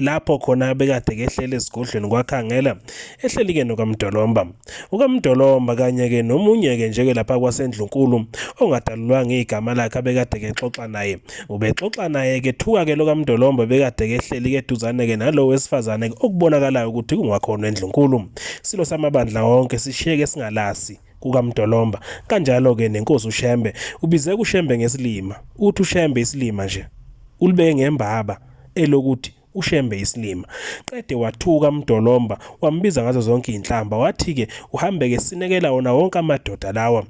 lapho khona abekade kehlele esigodlweni kwakhangela ehleli-ke nokamdolomba ukamdolomba kanye-ke nomunye-ke njeke lapha kwasendlunkulu ongadalulwanga igama lakhe abekade kexoxa naye ubexoxa naye-ke thuka-ke lokamdolomba bekade kehleli-ke eduzane-ke nalo wesifazane okubonakalayo ukuthi kungakhona endlunkulu silo samabandla wonke sishiyeke singalasi kukamdolomba kanjalo-ke nenkosi ushembe ubize kushembe ngesilima uthi ushembe isilima nje ulibeke ngembaba elokuthi ushembe isilima qede wathuka mdolomba wambiza ngazo zonke izinhlamba wathi ke uhambeke sinekela wona wonke amadoda lawa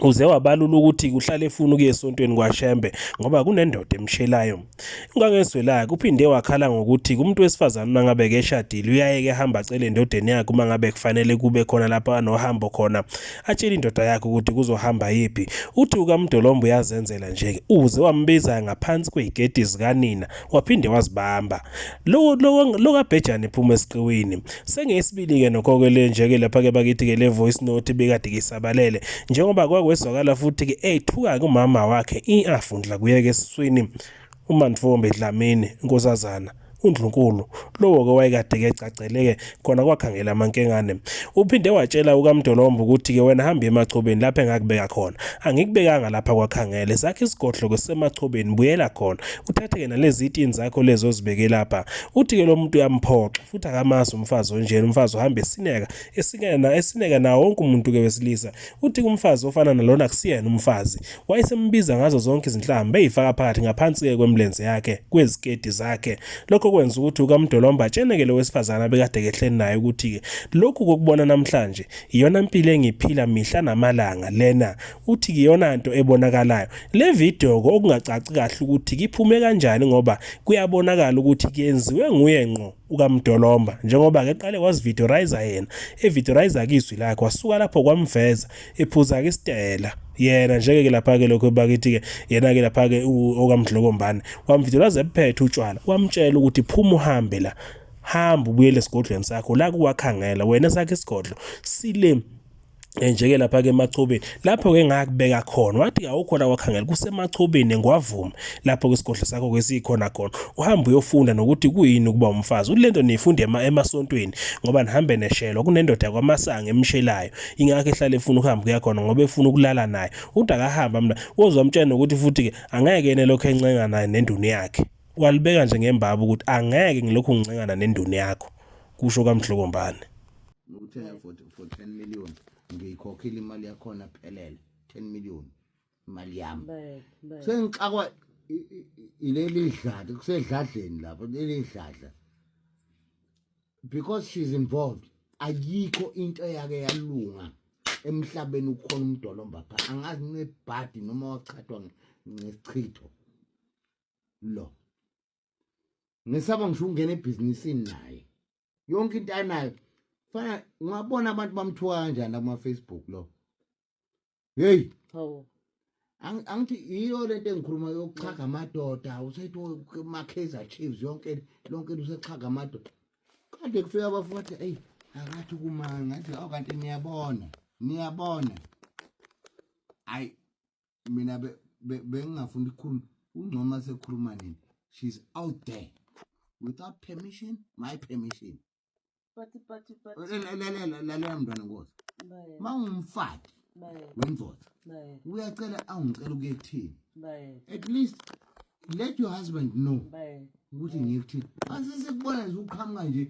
uze wabalula ukuthi kuhlale efuna ukuya esontweni kwaShembe ngoba kunendoda emshelayo ingangezwelaki uphinde wakhala ngokuthi kumuntu wesifazane uma ngabe keshadile uyayeke ehamba acele endodeni yakhe uma ngabe kufanele kube khona lapho anohambo khona atshele indoda yakhe ukuthi kuzohamba yiphi uthi ukamdolomba uyazenzela nje uze wambiza ngaphansi kwey'gedi zikanina waphinde wazibamba lo kabhejane phuma esiqiwini sengeyesibili-ke nokho-ke le nje-ke lapha-ke bakithi-ke le voice note bekade kisabalele njengoba kwakwezwakala futhi-ke ethuka kumama wakhe i-afundla kuyeke esiswini uMantfombi Dlamini, inkosazana, uNdlunkulu, lowo-ke wayekade-ke egcagcele-ke khona kwakhangela amankengane. Uphinde watshela ukaMdolomba ukuthi-ke wena hamba emachobeni lapho engakubeka khona. Angikubekanga lapha kwakhangele, sakhe isigodlo-ke sisemachobeni, buyela khona. Uthathe-ke nalezi itini zakho lezi ozibeke lapha. Uthi-ke lo muntu uyamphoxa, futhi akamazi umfazi onjena, umfazi uhamba esineka, esineka, esineka nawo wonke umuntu-ke wesilisa. Uthi umfazi ofana nalona kusiyena umfazi. Wayesembiza ngazo zonke izinhlamba beyifaka phakathi ngaphansi-ke kwemlenze yakhe, kweziketi zakhe. Lokho kwenza ukuthi ukaMdolomba atsheneke lo wesifazane abekade kehleni naye ukuthi-ke lokhu kokubona namhlanje iyona mpilo engiphila mihla namalanga lena. Uthi iyona nto ebonakalayo. Le video-ke okungacaci kahle ukuthi kiphume kanjani ngoba kuyabonakala ukuthi kuyenziwe nguye ngqo. ukamdolomba njengoba ke qale wazivideorizer yena evideorizer kizwi lakhe wasuka lapho kwamveza ephuza ke isitela yena njeke ke lapha ke lokho bakithi ke yena ke lapha ke okamdlokombane wamvideorizer ephethe utshwala wamtshela ukuthi phuma uhambe la hamba ubuyele esigodlweni sakho la kuwakhangela wena sakhe isigodlo sile njeke lapha ke emachobeni lapho ke ngakubeka khona wathi awukhona wakhangela kusemachobeni ngwavuma lapho kwesigodlo sakho kwesikhona khona uhamba uyofunda nokuthi kuyini ukuba umfazi ulento nifunde emasontweni ngoba nihambe neshelo kunendoda kwamasanga emshelayo ingakho ehlale efuna ukuhamba kuya khona ngoba efuna ukulala naye uthi akahamba mina wozwa mtshana ukuthi futhi ke angeke yena lokho encenga naye nenduni yakhe walibeka nje ngembaba ukuthi angeke ngilokhu ngincengana nenduni yakho kusho kamdlokombane ngikuthenga for for 10 million ngiyikhokhile imali yakhona phelele 10 million imali yami sengixakwa ileli dlada kusedladleni lapho leli dladla because she's involved ayikho into eyake yalunga emhlabeni ukukhona umdolomba pha angazi nebhadi noma waqhathwa ngesichitho lo ngisaba ngisho ukungena ebhizinisini naye yonke into anayo fana ungabona abantu bamthuka kanjani kuma Facebook lo hey hawo angithi yiyo lento engikhuluma yokuchaga amadoda usethi makheza chiefs yonke lonke usechaga amadoda kade kufika abafuthi eyi akathi kumanga ngathi awu kanti niyabona niyabona hayi mina bengingafuni ukukhuluma ungcoma sekhuluma nini she's out there without permission my permission lalela mntwana nkosi ma ungumfaki wendoda uyacela awungicela ukuye kuthini at least let your husband know ukuthi ngikuthini asise kubona nje uqhamuka nje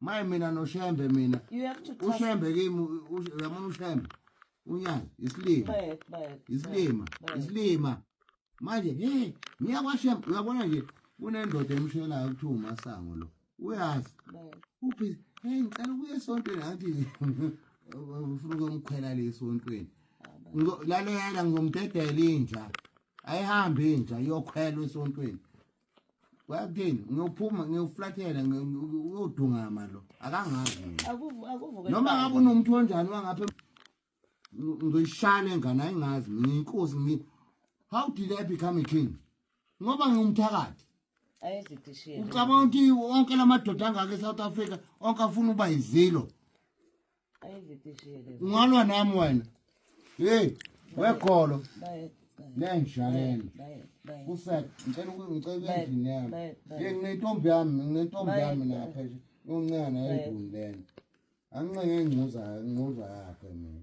maye mina noshembe mina You have to trust ushembe kimi u- u- uyabona ushembe unyazi isilima Bayek, bayek, isilima bayek. isilima manje hey ngiya kwashembe uyabona nje kunendoda emshelayo kuthiwa umasango lo uyazi Bayek. uphi hey ngicela ukuya esontweni athi ufuna ukumkhwela le esontweni Ngizo- lalela ngizomdedela inja ayihambe inja iyokhwela esontweni wakuthini ngiyophuma ngiyoflathela uyodungama lo akangazi noma ngabe unomuntu onjani wangapha ngizoyishana engane ayingazi ngiyinkosi ngi how did i become a king ngoba ngiwumthakathi ucabanga ukuthi onke la madoda angaka e-south africa onke afuna uba yizilo ungalwa nami wena hey wekholo lenjhaleni kusek ngicela ngicela endlini yami hey nginentombi yami nginentombi yami lapha yoncane endlini lena angincenga ingcuza ingcuza yakhe mina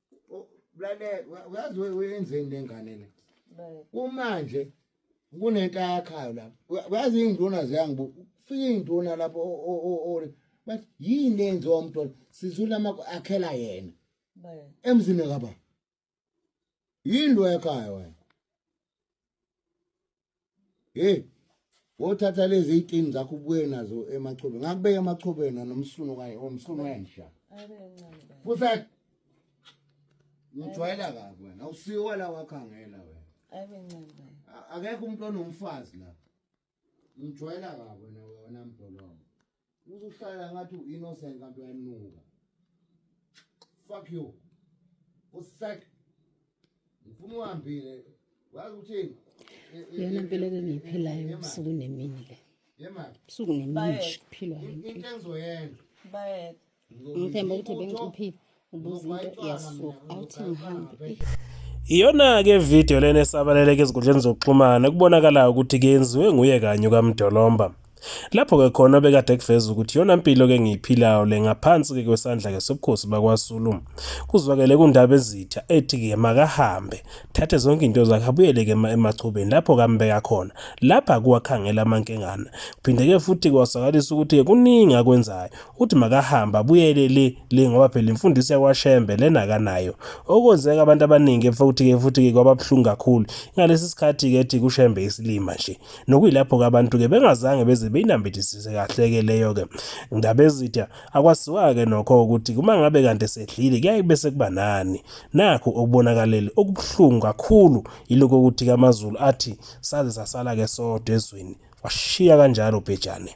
Blale uyazi wenzeni nengane le. Kumanje kunento ayakhayo lapha. Uyazi induna ziyangibuka. Ufika induna lapho o bathi yini lenziwa umntwana sizula amakho akhela yena. Emzini kaba. Yini lo yakhayo wena? hey wothatha lezi itini zakho ubuye nazo emachobeni ngakubeka emachobeni nomsunu kanye omsunu wensha futhi ngijwayela kabi wena awusiwa la wakhangela wena ayibe ncane akekho umuntu onomfazi la ngijwayela kabi wena wena mdolongo uzuhlala ngathi uinnocent kanti uyanuka fuck you usek ngifuna uhambile wazi ukuthini yona mpilo ke ngiyiphilayo ubusuku nemini le yemali ubusuku nemini kuphilwa into engizoyenza bayeke ngithemba ukuthi bengicuphile ubuza into yasuka awuthi ngihambe Iyona-ke ividiyo lena esabaleleka ezinkundleni zokuxhumana kubonakalayo ukuthi kenziwe nguye kanye ukaMdolomba. Lapho-ke khona obekade kuveza ukuthi yona mpilo-ke engiyiphilayo le ngaphansi-ke kwesandla-ke sobukhosi bakwaZulu. Kuzwakele kundaba ezitha ethi-ke makahambe, thathe zonke into zakhe abuyele-ke emachubeni lapho kambeka khona. Lapha kuwakhangela amankengana. Kuphinde-ke futhi kwasakaliswa ukuthi-ke kuningi akwenzayo. uthi makahambe abuyele le le ngoba phela imfundiso yakwashembe lena akanayo okwenzeka abantu abaningi futhi-ke futhi-ke kwababuhlungu kakhulu ngalesi sikhathi-ke ethi kushembe isilima nje nokuyilapho-ke abantu-ke bengazange beze beyinambithisise kahle-ke leyo-ke ndabezitha akwaziwa-ke nokho ukuthi uma ngabe kanti esedlile kuyaye kube sekuba nani nakho okubonakalele okubuhlungu kakhulu yilokho ukuthi-ke amazulu athi saze sasala-ke sodwa ezweni washiya kanjalo ubhejane